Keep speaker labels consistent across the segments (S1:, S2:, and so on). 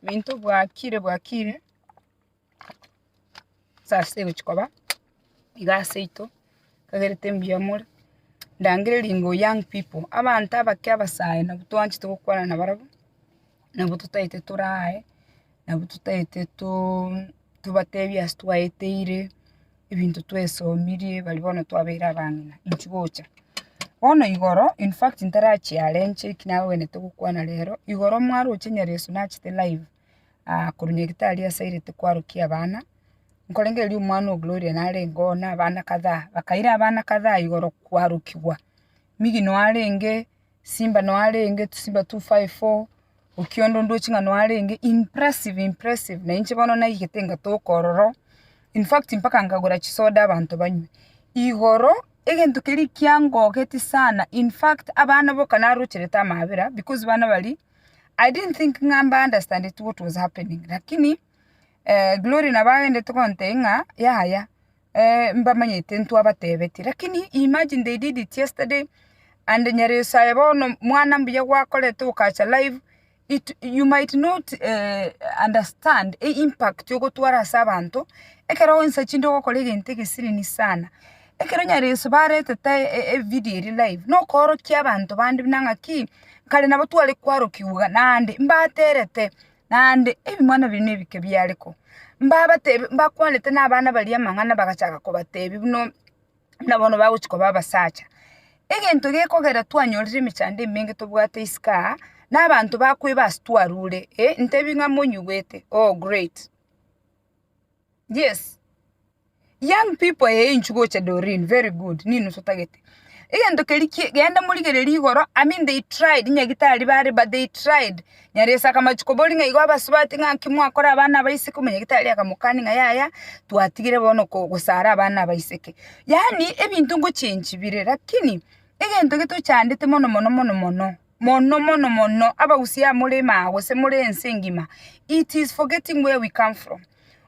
S1: Ebinto bwakire bwakire, saa sita egochia koba, iga ase ito, nkagerete mbuya more, ndangere ringo young people, abanto abake abasae nabwo twanchete gokwana nabarabwo, nabwo totaete tore aye, nabwo totaete to- tobatebie ase twaeteire, ebinto twesomirie bari bono twabeire abang'ina inchi gocha. Bono igoro in fact ntarachiarenche eki nagwenerete gokwana rero, igoro mwaroche nyareso nachete live korwa nyagetari asairete kwarokia abana, nkorenge erio omwana o Gloria narenge oo na abana kadhaa, bakaira abana kadhaa igoro kwarokigwa. Migino arenge. Simba noarenge tusimba 254 okiondo ndoche ng'a noarenge impressive impressive na inche bono naigete ngatoka ororo in fact mpaka nkagora chisoda abanto banywe. Igoro egento keria kiangogeti sana in fact abana boka narocherete amabera because bana baria I didn't think ng'a mba understandeti what was happening lakini Glory nabo agenderete gontebia ng'a yaya Eeh mbamanyete ntwabatebeti lakini imagine they did it yesterday and nyereso aye bono mwana mbuya gwakorete okacha live it you might not eeh understand the impact ogotwara ase abanto ekero ensa chinde ogokora egento egesilini sana ekero nyareso baretete e video eria live nokoorokia abanto bande buna ng'aki kare nabo tware kwarokigwa naende mbaterete. naende ebing'wana biaino ebike biare koo. Mbabatebie, mbakwanete na abana baria amang'ana bagachaka kobatebia buna, buna bono bagochi koba abasacha. Egento gekogera twanyorire emechando emenge tobwate isiko aa, na abanto bakoeba ase twarure, eh, ntebie ng'a monyigwete, oh great. Yes. Young people eeh inchu gocha Doreen very good nini osotagete. Egento keria kie genda morigere rigoro I mean they tried nyagitari bare but they tried Nyarese akamachi koboria ng'a igo abasubati ng'a nki mwakora abana aba isiko omonyagitari akamokani ng'a yaya twatigire bono ko gosara abana aba iseke. Yaani ebinto ngochengi bire lakini egento getochandete mono mono mono mono mono mono mono abagusii aa more maa gose more ense engima it is forgetting where we come from.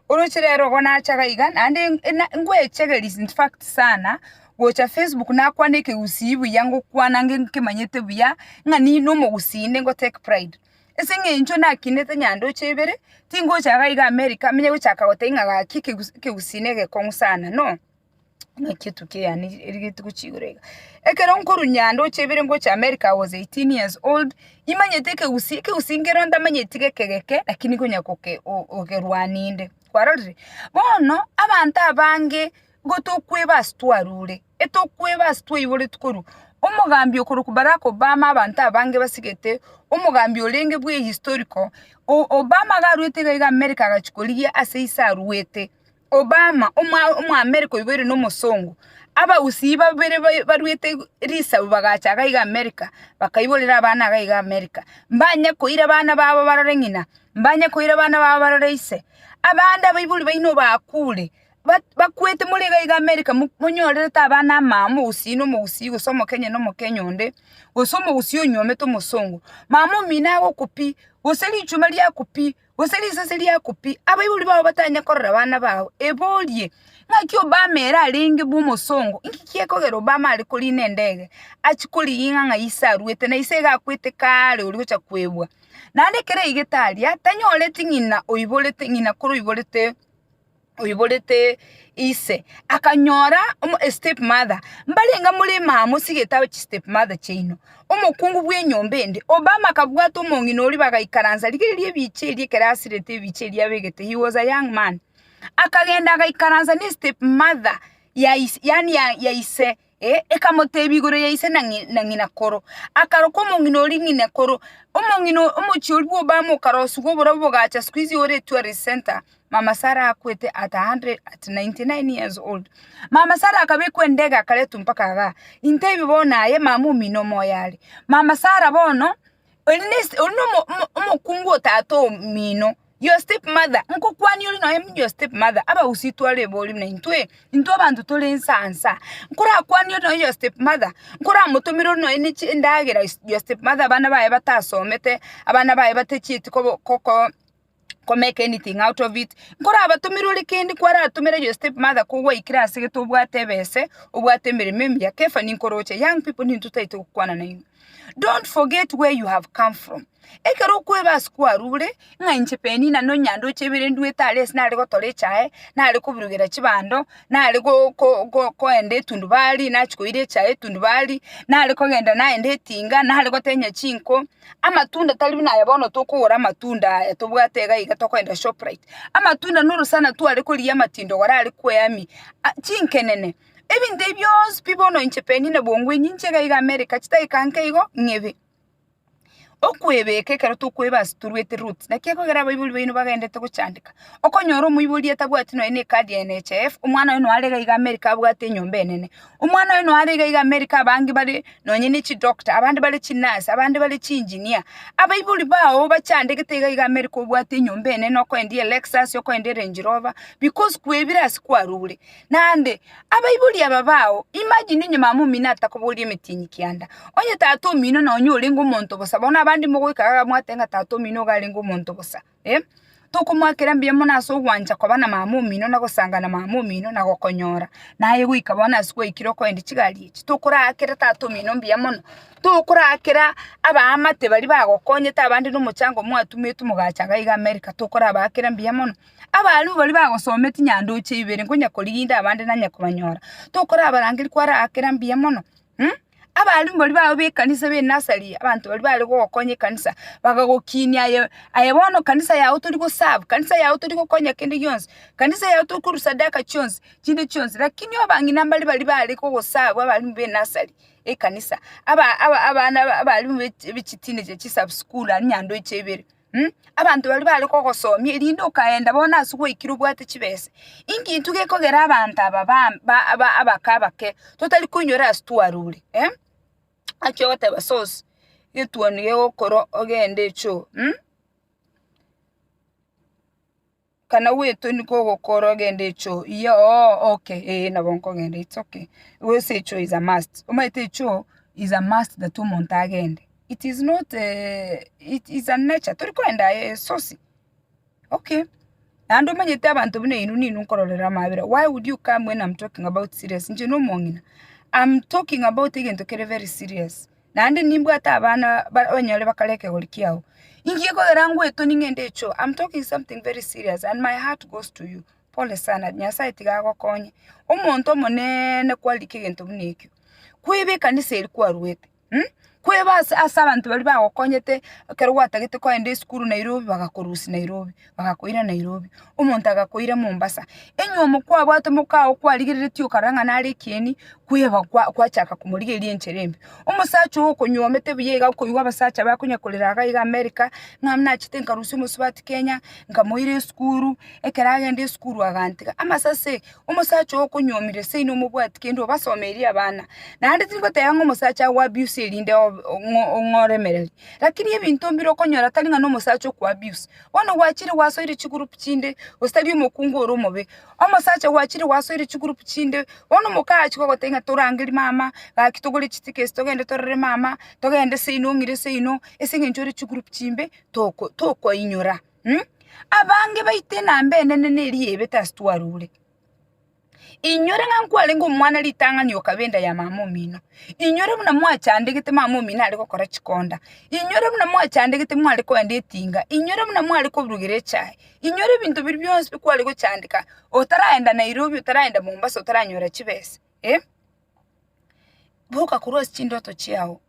S1: Oroche rero igo nachaga iga naende ngwechegeria in fact sana gocha facebook nakwana ekegusii buya ngokwana nge nkemanyete buya ng'a ninde omogusii inde ngo take pride. Ase eng'encho nakinete nyandoche ibere tingocha iga iga america nigochaka goteba ng'a gaki ekegusii ekegusii negekong'u sana no. buna chituko yaane eri rituko chigoro iga. Ekero nkorwa nyando gochia ibere ngochia America I was eighteen years old, nimanyete ekegusii, ekegusii nkero ntamanyeti geke geke lakini nkonya goke gokerwania inde, kwarorire? Bono abanto abange nigo tokoeba ase twarure, etokoeba ase twaiboreti korwa omogambi okorokwa Barack Obama abanto abange basigete omogambi orenge bwa ehistoriko, o Obama iga arwete iga iga America agachia korigia ase ise arwete, Obama, Omoamerika oiboire nomosongo. Abagusii babere barwete risabu bagacha iga iga Amerika, bakaiborera abana iga iga Amerika, mbanye koira abana babo barore ng'ina, mbanye koira abana babo barore ise. Abande abaibori baino bakure, bakwete more iga iga Amerika monyorerete abana amama, omogusii na omogusii gose omokenya na omokenya onde, gose omogusii onyuomete omosongo. Mama omino agokwa pi, gose richuma riakwa pi. Gose risase riaku pi, abaibori bao batanye korora abana bao, eborie, Ng'aki Obama ere arenge bw'omosongo? Inki gekogera Obama are koriina endege, achie koriging'a ng'a ise arwete, na ise iga akwete kaare oria ogocha kwebwa? Naende ekero aigete aria, tanyoreti ng'ina oiborete, ng'ina kore oiborete oiborete ise, akanyora omo a step mother, mbarenge more maa mosigete aba chi step mother chiaino, omokungu bw'enyomba ende, Obama akabwata omong'ina oria bagaikaransa, rigiya eria ebicha eria ekero asirete ebicha eria abegete, he was a young man, akagenda agaikaransa ne step mother ya ise yaani ya ise. Ee, ekamotebia igoro ya ise na ng'i- na ng'ina koro. Akaroka omong'ina oria ng'ina koro. Omong'ina o- omochie oria bw'Obama okarosiwa oborobio bogacha skuizi ore tourist centre. Mama Sarah akwete at 100 at 99 years old. Mama Sarah akabekwa endege akaretwa mpaka igaa. Intebie bono aye mama omino omoyo are. Mama Sarah bono, oria nesi- oria nomo- omo- omokungu o tata omino. Your stepmother, nkokwania ore nonya buna your stepmother, abagusii tware ebori buna intwe, intwe abanto tore ensansa. Nkorakwanie ore nonya your stepmother, nkoramotomere ore nonya ne chindagera is- your stepmother abana baye batasomete, abana baye batachieti kobo koko ko make anything out of it, nkorabatomere ore kende kwaratomere your stepmother ko gwaikire ase gete obwate ebese, obwate emeremo emiya, kefani nkoroche, young pipo nintwe taito gokwana nainwe. Don't forget where you have come from. Ekero okweba ase kwarure, ng'a inche Penina no Nyandoche ebere nduete are ase nare gotora echae, nare kobirogera chibando, nare go- ko- go- koenda etundubari, nachia koira echae etundubari, nare kogenda naende etinga, nare gotenya chinko, amatunda tari buna aya bono tokogora amatunda aya tobwate iga iga tokogenda Shoprite. Amatunda norosana tware korigia amatindo gorare kweami, a- chinkenene. Ebinto ebi bionsi pi bono inche Penny na Bongwe inye inche iga iga America chidakika nke igo ng'ebe okwebeka ekero tokweba ase toruete route naki ekogera abaibori baino bagenderete gochandeka okonyora omoibori atabwati nonya ne card ya NHIF omwana oye noare iga iga America abwate enyomba enene omwana oye noare iga iga America abange bare nonya ne chidoctor abande bare chinurse abande bare chiengineer abaibori bago bachandegete iga iga America obwate enyomba enene okoendia eLexus okoendia erange rover because kwebire ase kwarure. Naende, abaibori aba bao, imagine onye mama omino atakoboria emetienyi kianda, onye tata omino na onye orenge omonto bosa, bono abande mogoika iga mwateba ng'a tata omino nigo arenge omonto bosa, eh, tokomoakera mbuya mono ase ogwancha koba na mama omino na gosanga na mama omino na gokonyora. Naye goika bono ase gwaikire okoenda chigari echi, tokoraakera tata omino mbuya mono, tokoraakera abaamate baria bagokonyete abande na omochango mwatumetwe mogacha iga America, tokorabaakera mbuya mono. Abaria baria bagosomia chinyandoche ibere nkonya korigia abande nanye kobanyora. Tokorabarangeri kware agakera mbuya mono mh. Abaria baria bago bekanisa be nursery abanto baria bare kogokonya ekanisa bagagokinia aye aye bono kanisa yago tori go serve kanisa yago tori gokonya kende gionsi, kanisa yago tori korwa sadaka chionsi chinde chionsi lakini abang'ina mbaria baria bare kogo serve abarimu be nursery ekanisa aba aba abana abaria be ebi chiteenager chisubschool aria nyandoche ibere. Abanto baria bare kogosomia, erinde okaenda bono ase gwaikire obwate chibesa. Inki intwe gekogera abanto aba bam- ba- aba- abake abake totari koinyora ase twarure? Achia goteba source, egetuoni gegokorwa ogende echoo. Kana gwetoni kogokora ogende echoo? Iyee oo okay ee nabo nkogenda it's okay because echoo is a must omanyete echoo is a must that omonto agende it is not it's a nature tori kogenda aye esosi okay naende omanyete abanto buna inwe ninwe nkororera amabera why would you come when am talking about serious inche nomong'ina am talking about egento kere very serious. Naende nimbwate abana abanyore bakare ekegori kiao. Inki gekogera ngwetonia ng'ende echo? I'm talking something very serious and my heart goes to you. Pole sana, Nyasae tiga agokonye. Omonto omoneene kwarikire egento buna ekio. Kweba ekanisa eria kwaruete, um, kweba ase ase abanto baria bagokonyete ekero gwatagete kogenda esukuru Nairobi bagakorusia Nairobi. bagakoira Nairobi, omonto agakoira Mombasa. Enyiomo kwabwate mokao kwarigereretie okarora ng'a nare ekieni, kweba kwa- kwachaka komorigeria enchera embe. Omosacha oo okonyuomete buya iga okoigwa abasacha bakonya korera iga iga America, ng'a nachete nkarusia omosubati Kenya, nkamoira esukuru, ekero agenda esukuru agantiga. Amase ase omosacha oo okonyuomire seino omobwati kende obasomeiri abana. Naende tingoteba ng'a omosacha ago abuse erinde obe- ong'o- ong'oremereri, lakini ebinto mbire okonyora tari ng'a na omosacha oko abuse, Bono gwachire gwasoire chigurupu chinde, gose tari omokungu ore omobe. Omosacha gwachire gwasoire chigurupu chinde, bono omokaachi gogotebia ng'a torangerie mama, gaki togore chitiketi togende torore mama, togende seino ong'ire seino, ase eng'encho ore chigurupu chimbe, toko tokoinyora. Abange baito enamba enene neriya ebe tasi twarure. Inywore ng'a nkwarenge omwana ritang'ani okaba enda ya mama omino, inywore buna mwachandegete mama omino are gokora chikonda, inywore buna mwachandegete mware koenda etinga, inywore buna mware koburugera echae, inywore ebinto biria bionsi bi kware gochandeka otaraenda Nairobi, otaraenda Mombasa otaranyora chibesa eh. boka korwa ase chindoto chiao,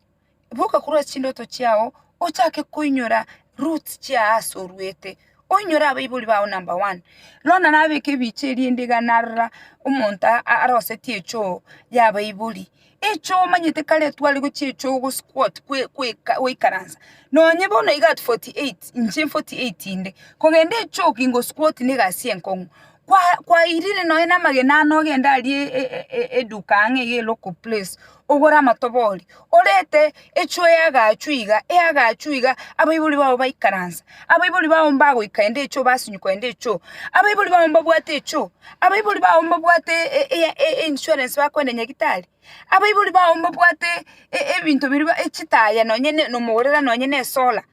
S1: boka korwa ase chindoto chiao ochake koinyora roots chia aase oruete, oinyore abaibori bao number one. Rora nabeke ebicha erinde iga narora omonto arosetie echoo y'abaibori, echoo omanyete kare etware gochia echoo go squat kwe kweka goikaransa, nonye bono iga at forty eight inche forty eight inde, kogenda echoo ki ngo squat na egasi enkong'u. kwairire nonya namagena ane ogende aria eduka ang'e iga elocal place, ogore amatobori, orete echwe eyagaachwa iga, eyagaachwa iga, abaibori babo baikaransa, abaibori babo mbagoika ende echoo, basinyukwa ende echoo, abaibori babo mbabwate echoo, abaibori babo mbabwate einsurance bakoenda nyagitari, abaibori babo mbabwate ebinto biria chitaya nonya nomogorera nonya nesola.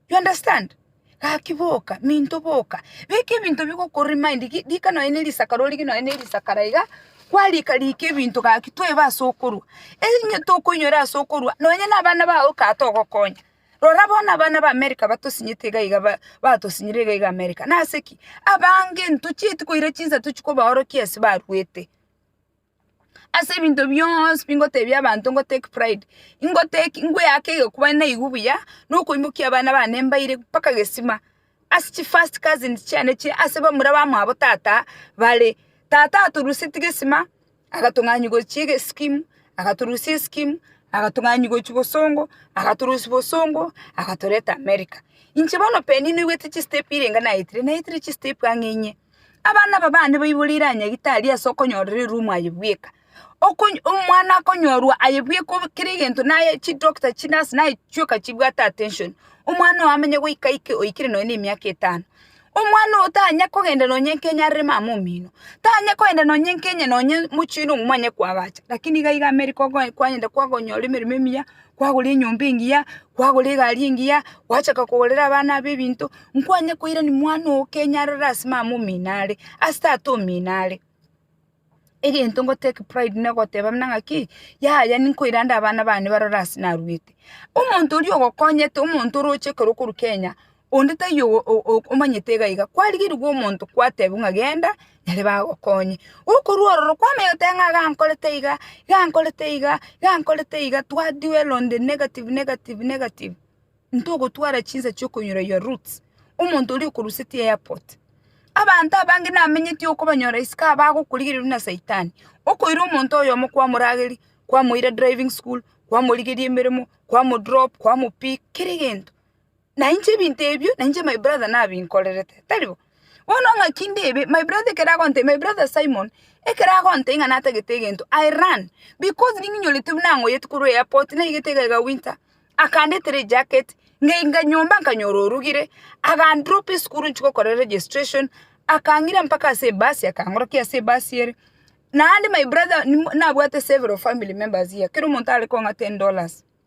S1: You understand? Gaki boka, minto boka, beka ebinto bigokora emind, gi- rika nonye ne risaka rorige nonye ne risaka ra iga, kwarika rika ebinto gaki toebe ase okorwa. Enye tokoinyora ase okorwa, nonye na abana bao kaa togokonya. Rora bono abana ba America batosinyete iga iga ba- batosinyire iga iga America, nase ki? abange ntochieti koira chinsa tochi kobaorokia ase baruete. Ase ebinto bionsi bi ngotebia abanto ngo take pride, ingo take ngweake egekuba naigwe buya, na okoimokia abana bane mbaire mpaka gesima, ase chi first cousins chiane chire ase bamura bamwabo tata bare. Tata atoruseti gesima, agatong'ani gochia ege scheme, agatorusia escheme, agatong'ani gochia bosongo, agatorosia bosongo, agatoreta America. Inche bono penina oigwete chi step irenga naetire, naetire chi step ang'e inye. Abana aba bane baiborire aa nyagete aria ase okonyorererwa omwaye bweka. Okonyo omwana akonyorwa aye bweka obe kera egento naye chidoctor chinurse naye chioka chibwate attention, omwana oyo amenye goika aike oikire nonye na emiaka etano. Omwana oyo tanya kogenda nonye nka enyarere mama omino, tanya kogenda nonye nka enye nonye mochie na omwanya kwaagacha, lakini iga iga amerika okoe kwanyenta kwakonyora emeremo emiya. kwagora enyomba engiya, kwagora egari engiya, gwachaka kogorera abana abo ebinto, nkwanye koirani mwana oo kenyarore ase mama omino are, ase tata omino are. Egento nko take pride na ogoteba buna ng'aki, yaya ninkoirande abana bane barore ase naruete. Omonto oria ogokonyete omonto oroche ekero okorwa Kenya. Onde taiyo omanyete iga iga, kwarigerigwe omonto kwatebiwa ng'a genda, naria bagokonye. Gokorwa ororo kwamanya goteba ng'a gankorete iga, gankorete iga, gankorete iga, twa dwell on the negative, negative, negative, ntogotwara chinsa chia okonyora your roots. Omonto oria okorusetie airport, abanto abange namenyeti okobanyora isiko aba bagokorigereria buna saitani, okoira omonto oyomo kwamorageria, kwamoira driving school, kwamorigeria emeremo, kwamo drop, kwamo pick, kera egento. Na inche ebinto ebio nainche my brother nabinkorerete, tari bo? Bono ng'aki ndebe, my brother ekero agontebia, my brother Simon, ekero agontebia ng'a natagete egento, I ran, because ning'inyorete buna ng'oyete korwa airport, naigete iga iga winter, akandetera ejacket, ng'aika nyomba nkanyora orugire, agandropa esukuru nchie gokora registration, akang'ira mpaka ase ebasi akangorokia ase ebasi ere, naende my brother nabwate several family members here, kera omonto are kong'a ten dollars.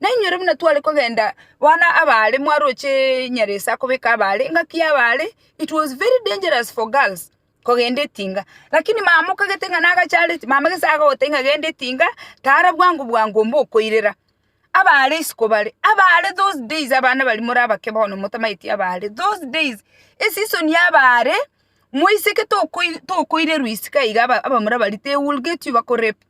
S1: Nainwe ere buna tware kogenda bono abaare mwaroche Nyaresa akobeka abaare engaki y'abaare it was very dangerous for girls kogenda etinga lakini mama okagete ng'a nagache are mama gese agagotebia ng'a genda etinga tara bwango bwango mbokoirera abaare isiko bare abaare those days abana baria more abake bono motamaeti abaare those days eseason y'abaare moiseke tokoi tokoirerwa isiko iga aba abamura baria they will get you bakorape.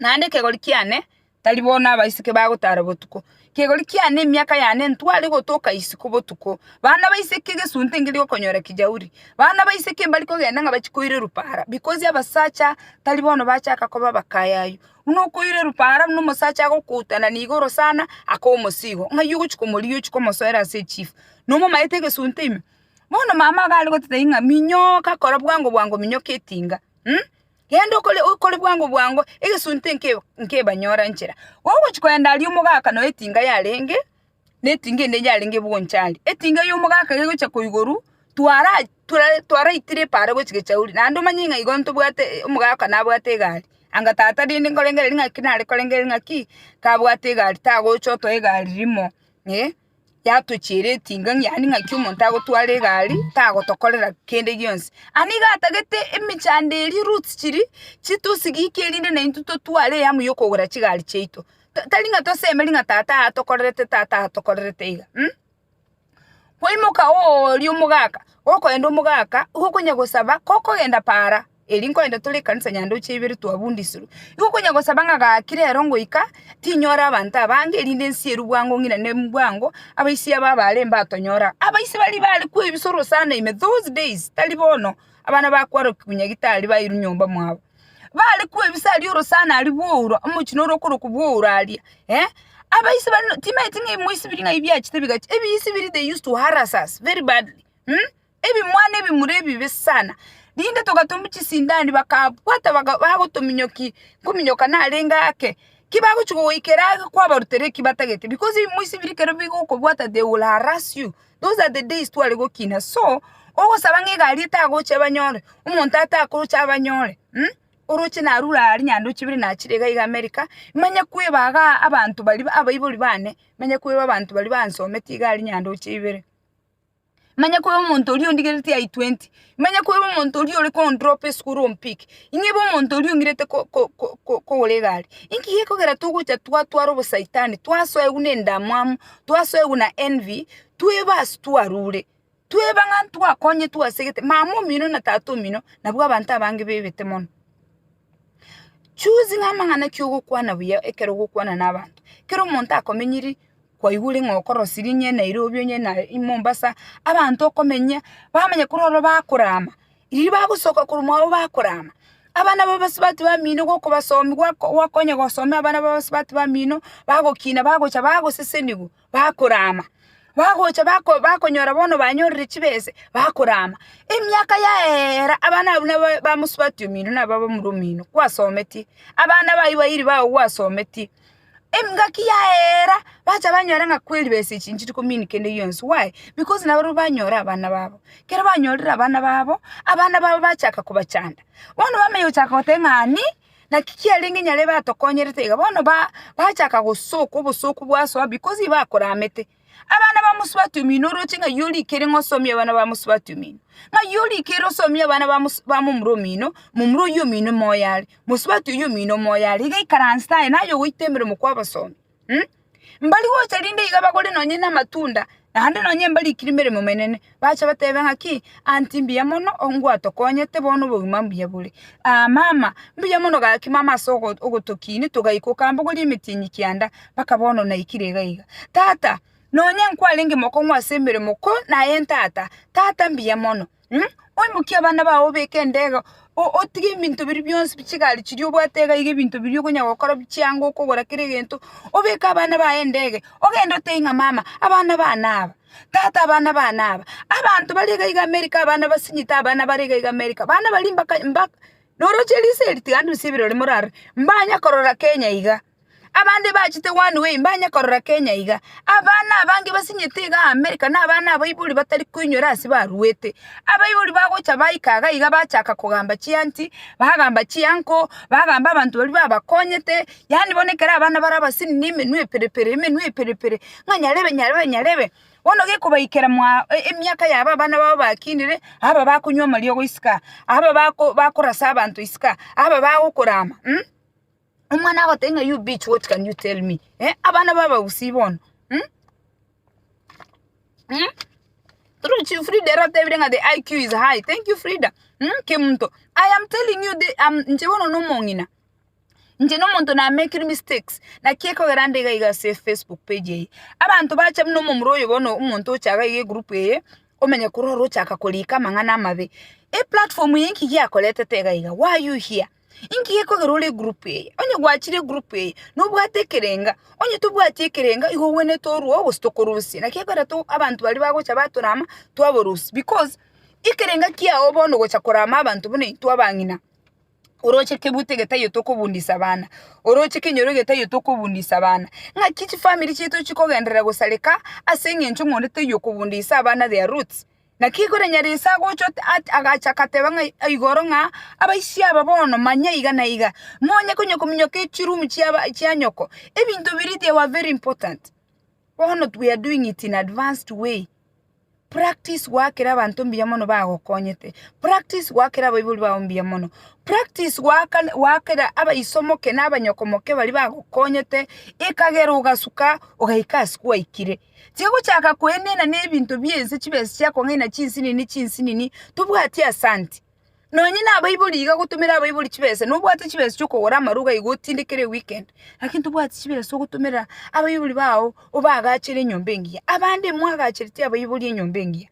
S1: Naende ekegori kiane tari bo nabaiseke bagotara botuko. Ekegori kiane emiaka yane ntware gotoka isiko botuko. Bana baiseke egesunte nkeri gokonyora ekijauri. Bana baiseke mbari kogenda ng'a bachie koira erupara because abasacha tari bono bachaka koba abakaya aywo. Buna okoira erupara buna omosacha agokoutana na igoro sana aka omosia igo ng'ai ogochia komorigia ochie komosoera ase echifu. Nomomaete egesunte ime. Bono mama iga are goteta ing'a minyoka kora bwango bwango minyoka etinga. Genda okore bwango bwango, egesunte nkebanyore nchera. Gogochia kogenda aria omogaka nonya etinga yarenge, na etinga ende yarenge bwonchari. Etinga ya omogaka gegochia koigoru, twara twaraitire epa are gochia gechauri. Naende omanye ng'a igo ntobwate omogaka nabwate egari, anga tata rende nkorengereria ng'aki nare korengereria ng'aki, kabwate egari tagocha otoe egari rimo eh. yatochiire etinga yaani ng'aki omonto agotwara egari tagotokorera kende gionsi. Aa nigo atagete emechando eria roots chiria chitosigikia erinde naintwe totware eyamu ya okogora chigari chiaito ta tari ng'a tosemeri ng'a tata atokorerete tata atokorerete iga mh. Kwaimoka ooria omogaka, okoenda omogaka igo okonya gosaba kokogenda para Erio nkorende tore ekanisa yandoche ibere twabundisirwe. Igo konya gosaba ng'a gaki rero ngoika tinyore abanto abange erinde nsierwe bwango ng'irane bwango abaisia aba bare mbatonyore aa. Abaisia baria bare kwebisoro sana ime those days tari bono abana bakwarokigwa nyagitari bairwe nyomba mwabo. Bare kwebisa aria orosana aria bwouro omochie ore okorokwa bwouro aria eh. Abaisia baria no timaeti ng'a moisibirie ng'a ebi biachete bigachi, ebiisibiri they used to harass us very badly mmh. Ebimwana ebimura ebibe sana, rinde togatomwa chisindani bakabwata bagotominyoki nkominyoka narenge ake, ki bagochia gogoikera ake kwabarutera eki batagete because ebimo ase ebiri ekero bigokobwata they will harrass you, those are the days tware gokina so ogosaba ng'a egari etagocha ebanyore, omonto atakocha abanyore mh, oroche narure aria aria naende ochibire nachire iga iga America, manye kwebagaa abanto baria abaibori bane, manye kweba abanto baria bansomete iga aria naende oche ibere. Manya koba omonto oria ondigereti I 20. Manya koba omonto oria ore ko drop esukuru o mpik. Ing'ebe omonto oria ong'irete kogora egari. Inki gekogera togocha twatwara obosaitani, twasoegwa ne endamwamu, twasoegwa na envy, tweba ase twarure. Tweba ng'a ntwakonyetwe ase egete. Mama omino na tata omino nabwo abanto abange bebete mono. Choosing amang'ana ki'ogokwana buya ekero ogokwana na abanto. Kero omonto akomenyiri kwaigure ng'a okorosirie onye Nairobi onye na Mombasa, abanto okomenya, bamanya korwa ororo bakorama, riria bagosoka korwa mwabo bakorama, abana babo abasubati bamino igo okobasomi gwako gwakonya gosomia abana babo abasubati bamino, bagokina bagocha bagosesenigwa. bakorama, bagocha bako bakonyora bono banyorire chibese, bakorama. Emiaka yaeera, abana abwo nabo bamosubati omino naba bamura omino, kwasometie, abana bayio bairi bago gwasometie. Engaki yaeera, bacha banyora ng'a kweli besa echi nchiri komin kende gionsi, why? Because nabarobwo banyora abana babo. Kero banyorire abana babo, abana babo bachaka kobachanda, bono bamanya gochaka goteba ng'ani. Naki kiarenge nyarebe atokonyerete iga, bono bachaka gosoka obosooku bwasoa because iba akoramete. Abana ba mosubati omino oroche ng'ai orikere ng'a osomie abana ba mosubati omino? Ng'ai orikere osomie abana ba ba momura omino? Momura oyio omino moyo are, mosubati oyio omino moyo are, iga ikaransete aye naye ogoita emeremo kw'abasomi. Hm, mbari gocha rinde iga bagore nonye namatunda, naende nonye mbarikiri emeremo emenene, bache batebe ng'aki, Anti mbuya mono ngwatokonyete bono obogima mbuya bore. Aa mama, mbuya mono gaki mama ase ogo- ogotokinia togaika okambogoria emetienyi kianda, mpaka bono naikire iga iga. Tata, nonye nkwarenge mokong'u ase emeremo ko naye ntata, tata mbuya mono. Oimokie abana bao obeke endego, otige ebinto biria bionsi chigari chiria obwate iga iga ebinto biria okonya gokora bichie ango okogora kera egento, obeke abana baye endege, ogende otebie ng'a mama, abana bane aba, tata abana bane aba, abanto bare iga iga America abana basinyete abana bare iga iga America, bana baria mbaka mba noroche risa eri tiga ndusie ebirori morarore, mbanya korora Kenya iga. Abande bachete One Way mbanye korora Kenya iga. Abana abange basinyete iga America na abana abaibori batari koinyora ase baruete. Abaibori bagocha baika iga iga bachaka kogamba chianti, bagamba chianko, bagamba abanto baria babakonyete, yaani bono ekero abana bare abasini ne emenwa epere pere emenwa epere pere ng'a nyarebe nyarebe nyarebe. Bono gekobaikera mwao emiaka yabo abana babo bakinire, aba bakonywa amariogo isiko aa, aba bako bakorasa abanto isiko aa, aba bagokorama. Omwana agoteba ng'a you bitch what can you tell me eh? Abana ba abagusii bono mm? Mm? Through Chief Frida ere otebire ng'a the IQ is high. Thank you Frida. Mm, Kemunto. I am telling you the, um, nche bono nomong'ina. Nche nomonto na make mistakes. Na kiekogera nde iga iga ase Facebook page eye. Abanto bacha buna omomura oyo bono omonto ochaga iga egroup eye omenye korora ochaka korika amang'ana amabe. E platform eye nki giakoretete iga iga? Why you here? Inki gekogera ore egroup eye? Onye gwachire egroup eye nobwate ekerenga, onye tobwati ekerenga igo ogwenerete orwoo gose tokorusia. Naki ekero to abanto baria bagocha batorama twaborusia because ekerenga kiago bono gocha korama abanto buna intwe abang'ina, oroche kebute egetaiyo tokobundisa abana, oroche kenyoro egetaiyo tokobundisa abana, ng'aki chifamiri chiaito chikogenderera gosareka ase eng'encho ng'onde taiyo okobundisa abana their roots. Naki igoro enyara ise agocha agacha agateba ng'a igoro ng'a, Abaisia aba bono manya iga na iga, monye konya kominyoka echirumu chia nyoko, ebinto biria they were very important, bono we are doing it in advanced way. Practice goakera abanto mbuya mono bagokonyete, practice goakera abaibori bao mbuya mono, practice goaka goakera abaiso moke na abanyoko moke baria bagokonyete, ekagera ogasuka ogaika ase kwaikire. Tigochaka koenena nebinto bi'ense chibese chiakong'aina chinsinini chinsinini tobwati asante. Nonye nabaibori iga gotomera abaibori chibese nobwate chibesa chiokogora amaruga iga otindekere eweekend lakini tobwati chibesa ogotomera abaibori bao obaagachere enyomba engiya. Abande mwagachereti abaibori enyomba engiya?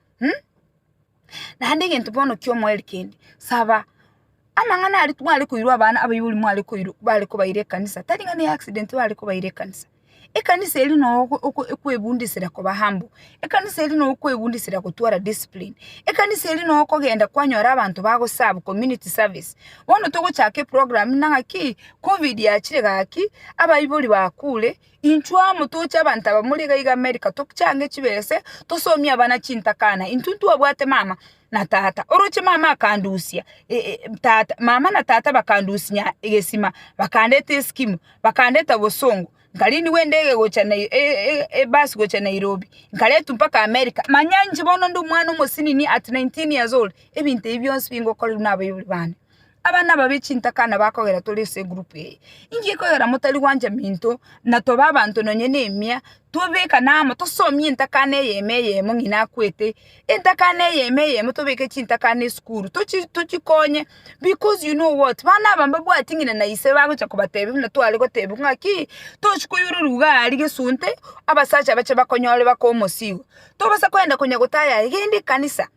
S1: Naende egento bono ki'omoerio kende, saba. Amang'ana aria tware koirwa abana abaibori mware koirwa bare kobaira ekanisa, tari ng'a ne accident bare kobaira ekanisa, ekanisa eria noo oko oko ekwebundisera koba humble, ekanisa eria noo okwebundisera gotwara discipline, ekanisa eria noo okogenda kwanyora abanto bago serve community service. Bono togochaka eprogramu ng'a ng'aki, covid yachire gaki, abaibori bakure, Inchuo amo toche abanto aba mori iga iga America tochange chibese tosomie abana chintakana intwe ntwabwate mama na tata oroche mama akandusia tata mama na tata bakandusia egesima bakandeta eskimu bakandeta bosongo nkari nigo endege gocha ebasi gocha Nairobi nkaretwa mpaka America manya inche bono ndi omwana omosini at nineteen years old ebinto ebi bionsi bingokorerwa nabaibori bane. Abana aba be chintaka na bakogera tore ase egroup eye, inki gekogera motari gwancha minto na tobe abanto nonye ne emia tobekane amo tosomie entakana eyemo eyemo ng'ina akwete, entakana eyemo eyemo tobeke chintakana esukuru tochi tochikonye because you know what bana aba mbabwati ng'ina na ise bagocha kobatebia buna tware gotebia ng'aki tochi koiyororwa igaa aria gesunte abasacha bache bakonyore bakoe omosigo, tobasa koenda konya gotaya aye genda ekanisa.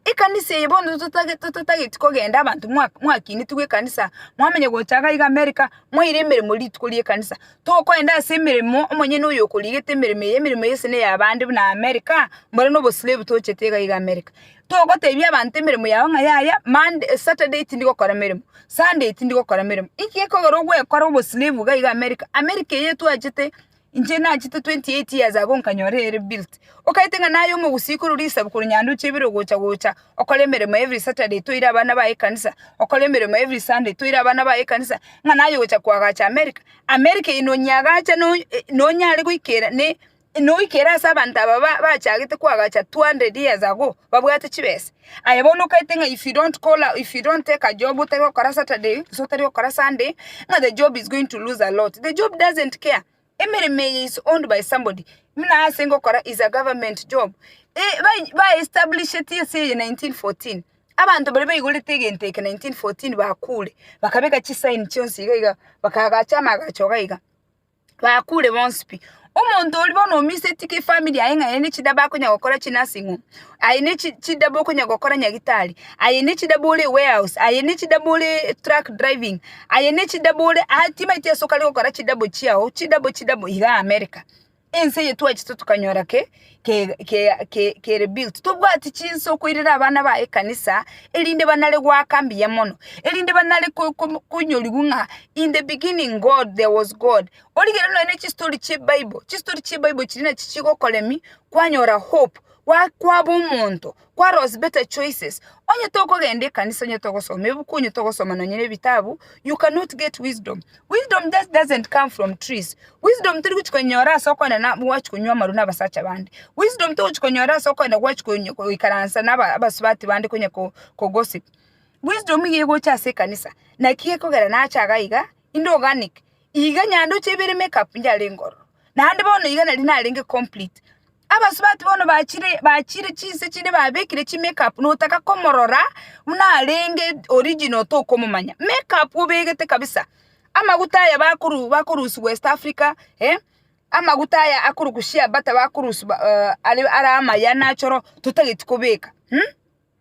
S1: Ekanisa eye bono totage totageti kogenda abanto mwa mwakinitigwe ekanisa mwamanya gocha iga iga America mwaire emeremo rituko ri'ekanisa tokoenda ase emeremo omonyene oyo okorigete emeremo eye emeremo eye ase neya abande buna America mbore nobo slave tochete iga iga America togotebia abanto emeremo yao ng'a yaya Monday Saturday tindi gokora emeremo Sunday tindi gokora emeremo inki gekogera ogwekora obo slave iga iga America America eye twachete. Inche nachete 28 years ago nkanyora ere built. Okaete ng'a naye omogusii korwa risabu korwa nyanduche ibere ogocha gocha okore emeremo every Saturday toire abana baye ekanisa, okore emeremo every Sunday toire abana baye ekanisa ng'a naye ogocha koagacha America. America eye nonyeagacha no nonyare goikera ne noikere ase abanto aba ba bachagete koagacha 200 years ago babwate chibesa. Aye bono okaete ng'a if you don't call a, if you don't take a job otari gokora Saturday gose otari gokora Sunday ng'a the job is going to lose a lot. The job doesn't care. Emeremo eye is owned by somebody. Buna ase ngokora is a government job. E, ba- baestablishetie ase eye 1914. Abanto baria baigorete egento eke 1914 bakure, bakabeka chisaini chionsi iga iga, bakagacha amagacho iga iga. bakure bonsi pi. Omonto oria bono omiseti ki family yaye ng'a aye ne chida bakonya gokora chi nursing home, aye ne chi chida bokonya gokora nyagitari, aye ne chida bore warehouse, aye ne chida bore truck driving, aye ne chida bore aa timaeti ase okare gokora chida bo chiao, chida bo chida bo igaa America. Ense eye twachete tokanyora ki? ke- ke- ke- kere built tobwati chinsa okoirera abana ba ekanisa erinde banare goaka mbuya mono erinde banare ko- ko- konyorigwa ng'a in the beginning god there was god origere nonye na chistori chia ebible chistori chia ebible chiria nachi chigokoremia kwanyora hope gwa- kwaba omonto Kware ase Better Choices, onye tokogenda ekanisa, onye togosoma ebuku, onye togosoma nonye ne ebitabu, you cannot get wisdom. Wisdom just doesn't come from trees. Wisdom tori gochi konyora ase okogenda na gwachi konywa amarwa na abasacha bande. Wisdom togochi konyora ase okogenda gwachi konyo- goikaransa na aba- abasubati bande konya ko- ko gossip. Wisdom iga egocha ase ekanisa, naki gekogera nache iga iga, Inde organic, iga nyando chia ibere make up njare ngororo, naende bono iga nari narenge complete. Abasubati bono bachire bachire chinse chinde babekire chi make up notaka komorora buna arenge original tokomomanya. Make up obegete kabisa, amaguta aya bakoru bakorusia West Africa, eh, amaguta aya akorokwa shea butter bakorusia are are amaya nachoro totageti kobeka mh.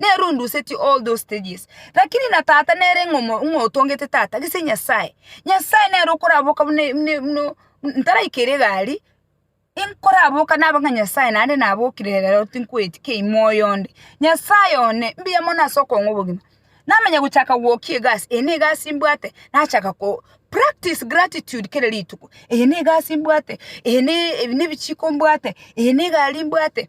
S1: nere ondusetie all those stages. Lakini na tata nere ng'a omo- ng'a otongete tata gese Nyasaye, Nyasaye nere okoraboka buna e- buna e- buna o- m- ntaraikera egari, inkoraboka nabe ng'a Nyasaye naende nabokire ere rero tinkoeti kei moyo onde. Nyasaye one, mbuya mono ase okong'a obogima. Namanya gochaka gwokia egasi, eye ne egasi mbwate, nachaka ko practice gratitude kera rituko, eye ne egasi mbwate, eye ne ebi nebichiko mbwate, eye ne egari mbwate.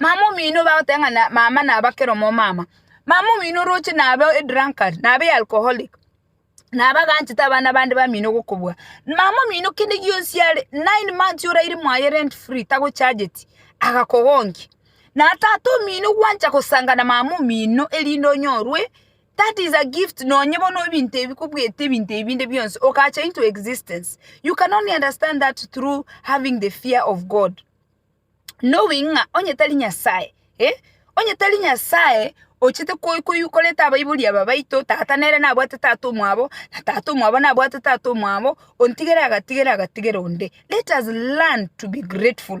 S1: Mama omino bagoteba ng'a mama naba kera omomama. Mama omino oroche naba edrunkard, naba ealcoholic, naba aganchete abana bande bamino gokobua. Mama omino kende gionsi are, nine months oraire mwaye rent free tagochageti, agakogonkia. Na tata omino gwancha gosanga na mama omino erinde onyorwe. That is a gift nonye bono ebinto ebi kobwete ebinto ebi binde bionsi okacha into existence you can only understand that through having the fear of God knowing ng'a onye tari Nyasaye eh, onye tari Nyasaye ochete ko- ko- koreta abaibori aba baito tata nere nabwate tata omwabo na tata omwabo nabwate tata omwabo ontigere agatigera agatigera onde let us learn to be grateful.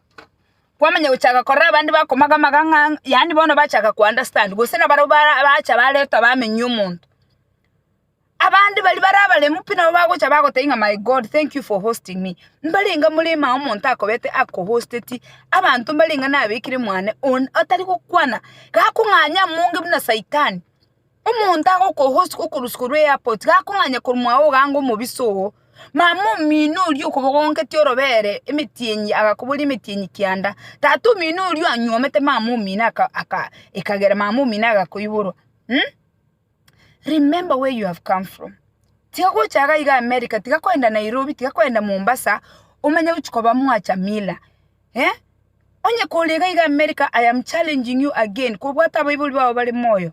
S1: kwamanya gochaka korora abande bakomaga amagang'a ang'e yaani bono bachaka ko understand gose na barabwo bara bacha baretwa bamenyia omonto. Abande baria bare abaremu pi nabo bagocha bagotebia ng'a my God thank you for hosting me mbare enga moremo aye omonto akobete ako hosteti abanto mbare enga nabekire mwane one otari gokwana gakong'anya amonge buna saitani. Omonto agokohosia okorusia korwa eairport gakong'anya korumwa ogange omobisa oo, mama omino oria okobogongetie orobere emetienyi agakoboria emetienyi kianda, tata omino oria anyuomete mama omino aka ekagera mama omino agakoiborwa mh remember where you have come from tiga gocha iga iga America tiga koenda Nairobi tiga koenda Mombasa omanye gochia koba mwacha mila eh, onye kore iga iga America I am challenging you again kobwata abaibori bao bare moyo.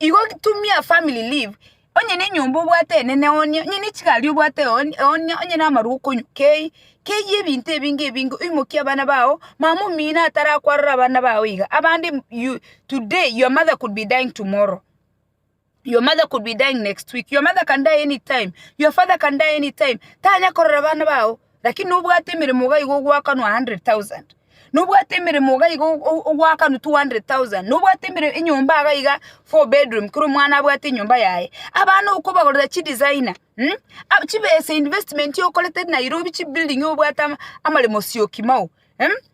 S1: Igo tumia family leave, onye ne enyomba obwate enene one, onye ne chigari obwate one, one, onye na amarwa okonywa, kei, keyie ebinto ebinge ebinge oimokie abana bao, mama omino atarakwarora abana bao iga, abande m- you, today your mother could be dying tomorrow, your mother could be dying next week, your mother can die any time, your father can die any time, tanya korora abana bao. Lakini nobwate emeremo iga igo ogwakanwa 100,000. Nobwate emeremo iga igo o- o- ogwakanwa 200,000. Nobwate emere- enyomba iga iga four bedroom, kera omwana abwate enyomba yaye. Abana okobagorera chidesigner, um, ab- chibesa investment okorete Nairobi chibuilding obwate ama- amaremo sioki mao, um.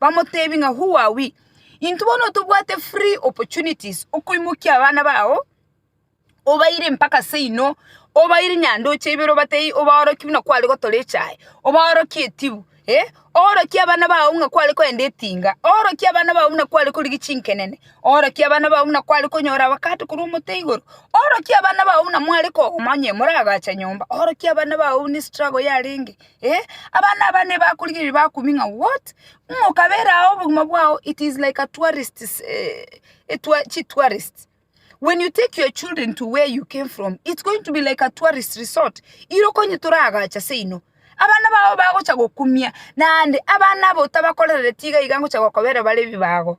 S1: Bamoteebie ng'a, Huawii, intwe bono tobwate free opportunities okoimokia abana bao, obaire mpaka seino, obaire nyandoche ibere obatebie obaorokie buna kware gotora echae, obaorokie etibu, eh, oorokie abana bao ng'a kware kogenda etinga, oorokie abana bao buna kware korigia chinkenene, oorokie abana bao buna kware konyora abakato korwa omote igoro, oorokie abana bao buna mware kogoma onye moragache nyomba, oorokie abana bao buna estruggle yarenge. Eh, abana aba nebakorigereria bakuming'a what? Ng'a okabere ao obogima bwao it is like a tourist s- eh, a tour- chi tourist. When you take your children to where you came from, it's going to be like a tourist resort. Iro konye toragacha seino. Abana bao bagocha gokumia, naende abana abo tabakorereti iga iga ngocha gokobera bare ebibago.